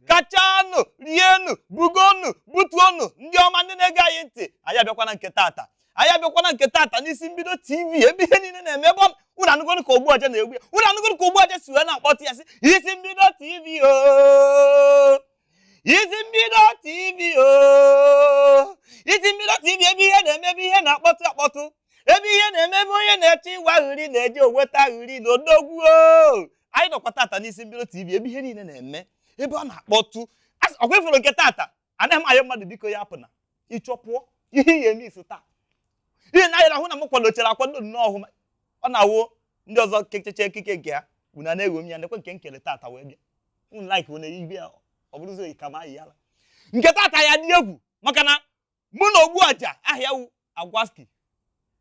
gachanụ rienụ bugonụ butuonụ ndị ọma ndị na-ege anyị ntị anyị abịakwana nke tata anyị abịakwana nke tata n'isi mbido tv ebe ihe niile na-eme ebe ọ- unu anụgonu ka ogbu ọja na-egbu ya unu anụgonu ka ogbu ọja si wee na-akpọtụ ya sị isi mbido tv oo isi mbido tv oo isi mbido tv ebe ihe na-eme ebe ihe na-akpọtụ akpọtụ ebe ihe na-eme ebe onye na-achọ inwe aṅụrị na-eje enweta aṅụrị na odogwu oo anyị nọkwa tata n'isi mbido tv ebe ihe niile na-eme ebe ọ na-akpọtụ ọkwa ị fụrụ nke tata anaghị m ayọ mmadụ biko ya apụna ị chọọ pụọ ihe ihe eme iso taa ihe na ahịra hụ na m kwadochara akwado nnọọ ọhụma ọ na-awụ ndị ọzọ kecheche ekike nke ha unu a na-egho m ya nekwa nke m kere tata wee bịa unu like unu igwe ya ọ bụrụzi oyi ka ma ayị yala nke tata ya dị egwu maka na mụ na ogbu ọja aha ya wu agwaski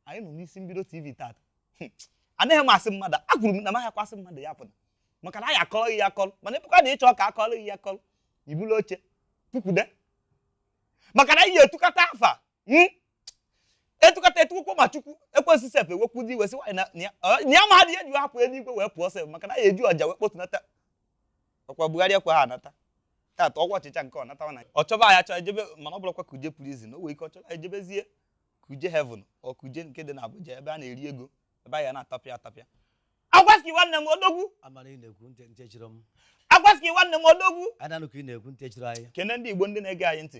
anyị nọ n'isi mbido tv tata hmm. anaghị m asị mmadụ ekwuru m na m ahịakwasị mmadụ ya apụna maka na anyị akọrọ ya akọrọ mana ị pụkwa na ị chọọ ka akọrọ ya akọrọ i bulu oche tukwude maka na anyị etukata afa hmm. etukata etukwukwo ma chukwu ekwensu sef ewekwu ndị iwe sị nwaanyị na ya ma ha dị eji hapụ eluigwe wee pụọ sef maka na anyị eji ọja wee kpotunata ọkwa Buhari ekwe ha anata tata ọkwa ọchịcha nke ọ natawa na ọ chọba ya chọọ ejebe mana ọ bụrụkwa kuje prison o nwere ike ọ chọba ejebezie kuje heaven ọ kuje nke dị na Abuja ebe a na-eri ego ebe a ya na-atapịa atapịa agwaski nwanne m odogwu amara ị na-ekwu ntị ntị chiri m agwaski nwanne m odogwu a na-anụ ka ị na-ekwu ntị chiri anyị kene ndị Igbo ndị na-ege anyị ntị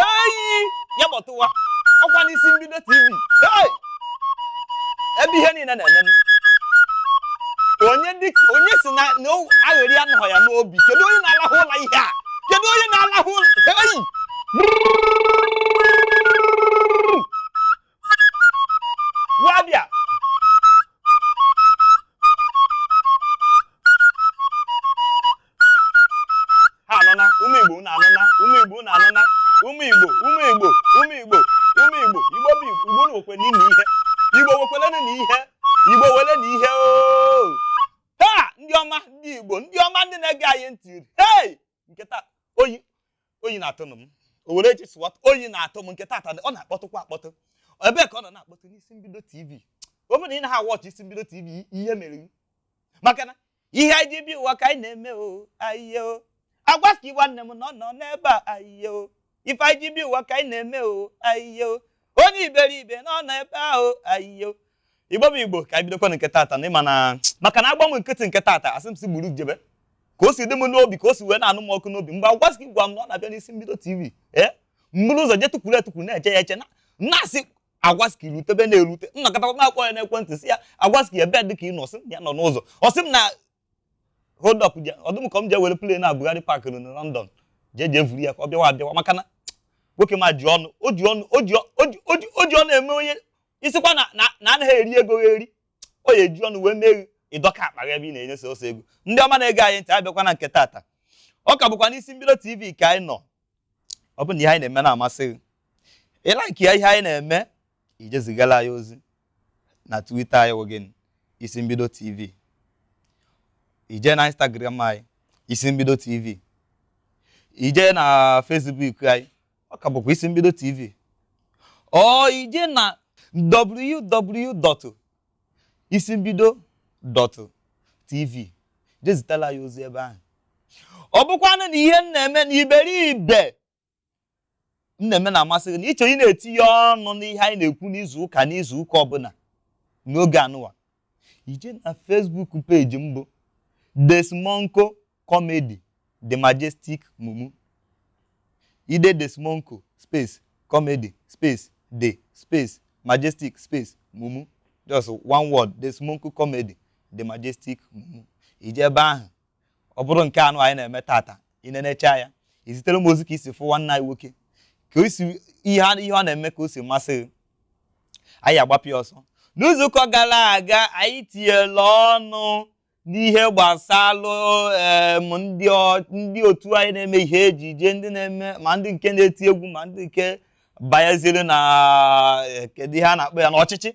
eyi ya kpọtụwa ọkwa n'isi mbido tv Hey! ebe ihe niile na-eme. onye dịka onye sị na na o- aṅụrị anọghị ya n'obi kedu onye na-alahụ ụla ihe a kedu onye na-alahụ ụla eyi Wabịa! Ha anụna, ụmụ Igbo unu anụna, ụmụ Igbo unu anụna, ụmụ Igbo, ụmụ Igbo, ụmụ Igbo, ụmụ Igbo, Igbo bụ Igbo, Igbo nwekwe n'ime ihe, Igbo nwekwelenu na ihe, Igbo wele na ihe ooo! Ha! Ndị ọma, ndị Igbo, ndị ọma ndị na-ege anyị ntị, hei! nke taa oyi oyi na-atụnụ m o were echi sụwa oyi na-atụ m nke tata ọ na-akpọtụkwa akpọtụ ebee ka ọ nọ na-akpọtụ n'isi mbido tv ọ bụrụ na ị naghị watch isi mbido tv ihe mere gị maka na ihe anyị ji bịa ụwa ka anyị na-eme o ayiye o agwaski nwanne m na ọ nọ n'ebe a ayiye o ife anyị ji bi ụwa ka anyị na-eme o ayiyo onye iberibe na ọ nọ ebe ahụ ayiyo igbo bụ igbo ka anyị bidokwa nke tata na ịma na maka na agbanwe nkịtị nke tata asị m si gburu jebe ka o si dị m n'obi ka o si wee na-anụ m ọkụ n'obi mgbe agwaski gwa m na ọ na-abịa n'isi mbido tv ee m buru ụzọ je tukwuru etukwuru na-eche ya eche na-asị agwaski rutebe na-erute m nọkọtakwa m akpọọ ya n'ekwentị sị ya agwaski ebe dị ka ị nọ sị ya nọ n'ụzọ ọ sị m na hold up je- ọ dị m ka m jee were plane na Buhari Park nọ na London jee jee vuru ya ka ọ bịawa abịawa maka na nwoke ma ji ọnụ o ji ọnụ o ji ọ- o ji- o ji- o ji ọnụ eme onye sịkwa na na na anaghị eri ego gha eri o ya eji ọnụ wee mee gị ị dọka akpa gị ebe ị na-enye sọsọ ego ndị ọma na-ege anyị ntị abịakwa na nke tata ọ ka bụkwa n'isi mbido tv ka anyị nọ ọ bụ na ihe anyị na-eme na-amasị gị ị like ya ihe anyị na-eme i je zigara anyị ozi na Twitter anyị wụ gịnị isi mbido tv i je na Instagram anyị isi mbido tv i je na Facebook anyị ọ ka bụkwa isi mbido tv or i je na isi mbido dot tv je zitalụ anyị ozi ebe ahụ ọ bụkwanụ na ihe m na-eme na iberibe m na-eme na-amasị gị na ị chọ ịna-etinye ọnụ n'ihe anyị na-ekwu n'izu ụka n'izu ụka ọbụla n'oge anụwa i je na Facebook page m bụ Desmonko Comedy, The Majestic Mumu. I dee Desmonko, space, comedy, space, the, space, majestic, space, mumu. Just one word, Desmonko comedy, The Majestic Mumu. I je ebe ahụ, ọ bụrụ nke anụ anyị na-eme tata, i nenechaa ya, i zitere m ozi ka i si fụ nwanne anyị nwoke, ka o si ihe a- ihe ọ na-eme ka o si masị gị. Anyị agbapịa ọsọ. N'izuụka gara aga, anyị tinyere ọnụ n'ihe gbasalụ em, ndị ọ- ndị otu anyị na-eme ihe ejije ndị na-eme ma ndị nke na-eti egwu ma ndị nke banyeziri na eh, kedu ihe a na-akpọ ya n'ọchịchị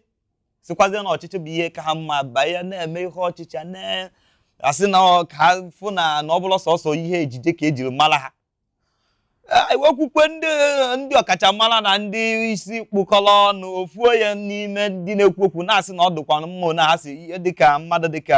sikwazie na ọchịchị bụ ihe ka ha mma banye na-eme ihe ọchịchị a na-asị na ọ- ka ha fụ na na ọ bụrọ sọsọ ihe ejije ka e jiri mara ha okwukwe ndị ndị ọkachamara na ndị isi kpụkọrọ ọnụ ofu onye n'ime ndị na-ekwu okwu na-asị na ọ dịkwa mma na ha si ihe dịka mmadụ dịka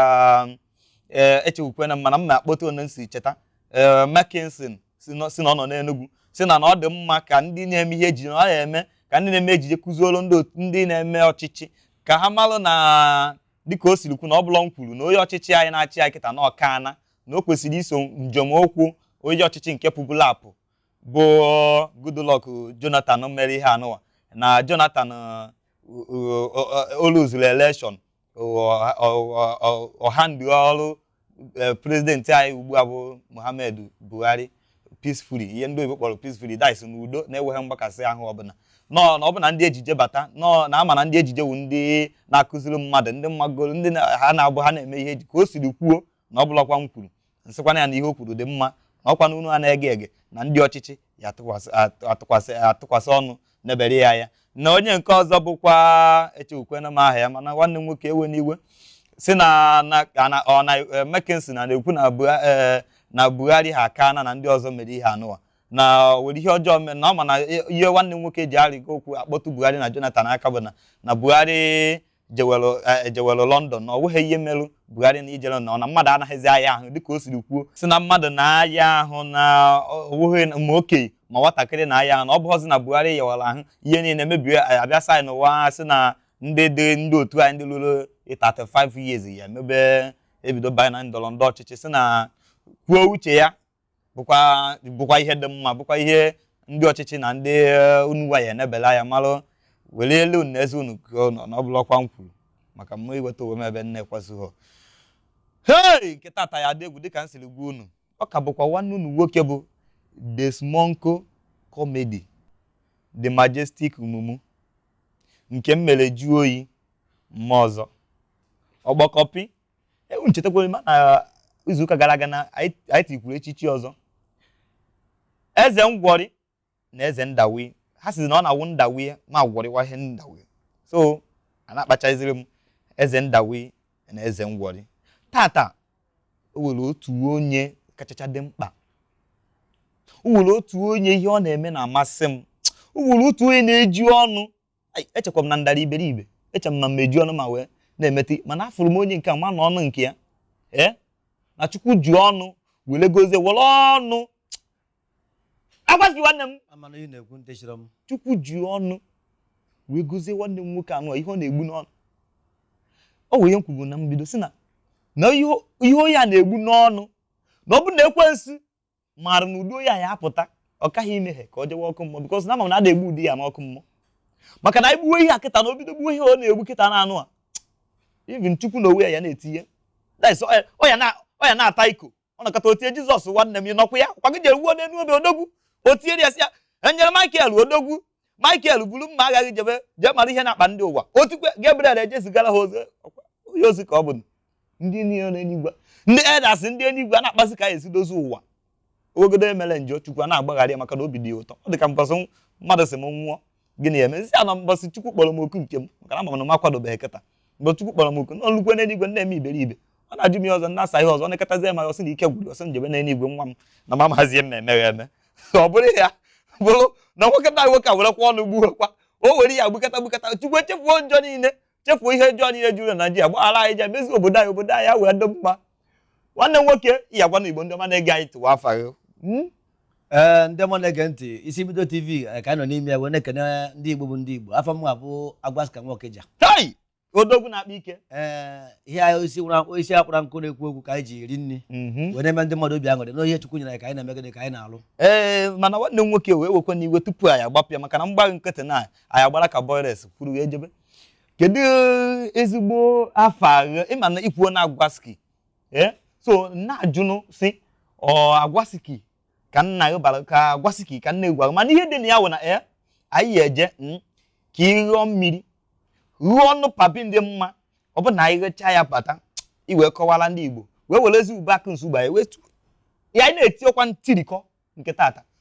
ee echekwukwe na mana m na-akpọta onye m si cheta ee Mackinson sị na sị na ọ nọ n'Enugu sị na na ọ dị mma ka ndị na-eme ihe ejije na ọ na-eme ka ndị na-eme ejije kuziere ndị otu- ndị na-eme ọchịchị ka ha malụ na dịka o siri kwu na ọ bụrọ m kwuru na onye ọchịchị anyị na-achị anyị kịta na ọ ka na na o kwesịrị iso nzọm ụkwụ onye ọchịchị nke pụbụla apụ bụ Goodluck Jonathan mere ihe anụwa na Jonathan o luzuru elekshọn ọ hand over e, prezidenti anyị ugbu a bụ Muhammadu Buhari peacefully ihe ndị oyibo kpọrọ peacefully that is n'udo na-enweghị mgbakasị ahụ ọbụla nọọ na ọ bụ na ndị ejije bata nọọ na ama na ndị ejije wu ndị na-akụziri mmadụ ndị m magoro ndị ha na-abụ ha na-eme ihe eji ka o siri kwuo na ọ bụlakwa m kwuru m sịkwana ya na ihe o kwuru dị mma na ọkwa na unuwa na-ege ege na ndị ọchịchị ya atụkwasị ọnụ nebere ya anya na onye nke ọzọ bụkwa echewukwena m aha ya mana nwanne m nwoke ewena iwe si na ọ na e, Mackinson na-ekwu na e, na Buhari ha aka na na ndị ọzọ mere ihe anụwa na were ihe ọjọọ mee na ọ ma na e, ihe nwanne m nwoke ji arịgo okwu akpọtụ Buhari na Jonathan aka bụ na na Buhari jewelụ eh, ejewelụ London na ọ nweghị ihe merụ Buhari na ijere na ọ na mmadụ anaghịzi aya ahụ dịka o siri kwuo si na mmadụ na-aya ahụ na ọ nweghị na- ma okenye ma nwatakịrị na-aya ahụ na ọ bụghịzi na Buhari yawara ahụ ihe niile mebie eh, a bịa side nụwa ha si na ndị dị ndị otu anyị ndị luru 35 years ya-emebe ebido banye na ndọrọ ndọrọ ọchịchị si na kwuo uche ya bụkwa bụkwa ihe dị mma bụkwa ihe ndị ọchịchị na ndị eh, unuwa ya enebela anya malụ were elu na eze unu ka ọ nọ na ọ bụla ọkwa m kwuru maka m ma iweta onwe m ebe na-ekwesughọ hei nke tata ya dị egwu dịka m siri gwa unu ọ ka bụkwa nwanne unu nwoke bụ Desmonko Comedy The Majestic Mumu nke m mere jụọ oyi mma ọzọ ọgbọkọpị ewu echetakwere m na izuụka gara aga na anyị anyị tikwuru echichi ọzọ eze ngwọrị na eze ndawi ha sizi na ọ na-awụ ndawi ma gwọrịwa ihe ndawi so a na-akpachaziri m eze ndawi na eze ngwọrị tata o nwere otu onye kachacha dị mkpa o nwere otu onye ihe ọ na-eme na-amasị m o nwere otu onye na-eji ọnụ echekwa m na m dara iberibe eche m na m eji ọnụ m a wee na-emete mana afụrụ m onye nke a ma na ọnụ nke ya ee na chukwu ji ọnụ were gozie were ọnụ agwazi nwanne m chukwu ji ọnụ wee gozie nwanne m nwoke anụ ihe ọ na-egbu n'ọnụ o nwee ihe m kwugo na mbido si na na ihe onye a na-egbu n'ọnụ na ọ bụ na ekwensu maara na ụdị onye a ya apụta ọ kaghị imehie ka ọ jewe ọkụ mmụọ bikọs na ama m na a na-egbu ụdị ya n'ọkụ mmụọ maka na anyị gbuwe ihe a kịta na o bido gbuwe ihe ọ na-egbu kịta na anụ a even chukwu na onwe ya ya na-etinye That's ọ ya- ọ ya na- ọ ya na-ata iko ọ nakọta o tie Jizọs nwanne m ya nọkwa ya kwagide ruo n'elu obe odogwu o tiere ya sị ya angel Michael odogwu Michael buru mma agha gị jebe jee mara ihe na-akpa ndị ụwa o tikwe Gabriel ejezigara ha ozi onye ozi ka ọ bụ ndị niile n'eluigwe ndị elders ndị eluigwe a na-akpazi ka anyị esi dozie ụwa obodo emere njọ chukwu a na-agbaghara ya maka na obi dị ya ụtọ ọ dị ka mbọsị mmadụ sị m nwụọ gịnị ya emezi ya na mbọsị chukwu kpọrọ m oku nke m maka na ama m na m akwadobeghị kịta mgbe chukwu kpọrọ m oku n'ọlụkwe n'eluigwe na-eme iberibe ọ na-ajụ m ihe ọzọ na-asa ihe ọzọ na-ekọtazi ya ma ọ sị na ike gwụrụ ọ sị m jebe n'eluigwe nwa m na m amahazi ihe m na-eme gị eme ọ bụrụ ya bụrụ na nwoke na nwoke a werekwa ọnụ gbuwekwa o were ya gbukata gbukata chukwu echefuo njọ niile chefuo ihe ọjọọ niile juru na Naịjirịa gbaghara anyị je mezi obodo anyị obodo anyị wee dị mma nwanne m nwoke ya gwa ndị Igbo ndị ọma na-ege anyị ntị afa gị hmm? ee ndị ọma na-ege ntị Isimbido tv eh, ka anyị nọ n'ime ya wee na-ekene ndị Igbo bụ ndị Igbo afa m bụ Agwaski nwa Okija odogwu na-akpa ike ee eh, ihe anyị isi isi akpara nkụ na-ekwu okwu ka anyị ji eri nri mhm. wee na-eme ndị mmadụ obi aṅụrị na ihe Chukwu nyere anyị ka anyị na-emegide ka anyị na-alụ ee eh, mana nwanne m nwoke ewekwana iwe tupu anyị agbapịa maka na m gbaghị nkịtị na anyị agbara ka boyres kwuru wee jebe kedu ezigbo afa gị ị ma na i kwuo na agwaski ee so na-ajụnụ sị ọ agwaski ka nna gị bara ka agwaski ka nna egwu mana ihe dị na ya wụ na ee anyị ya eje mm, ka ị ghọọ mmiri ruo ọnụ papi ndị mma ọ bụ na anyị jecha ya bata i wee kọwara ndị igbo wee werezi ube akụ nsuba ya wee tu- ya anyị na-eti ọkwa ntirikọ nke tata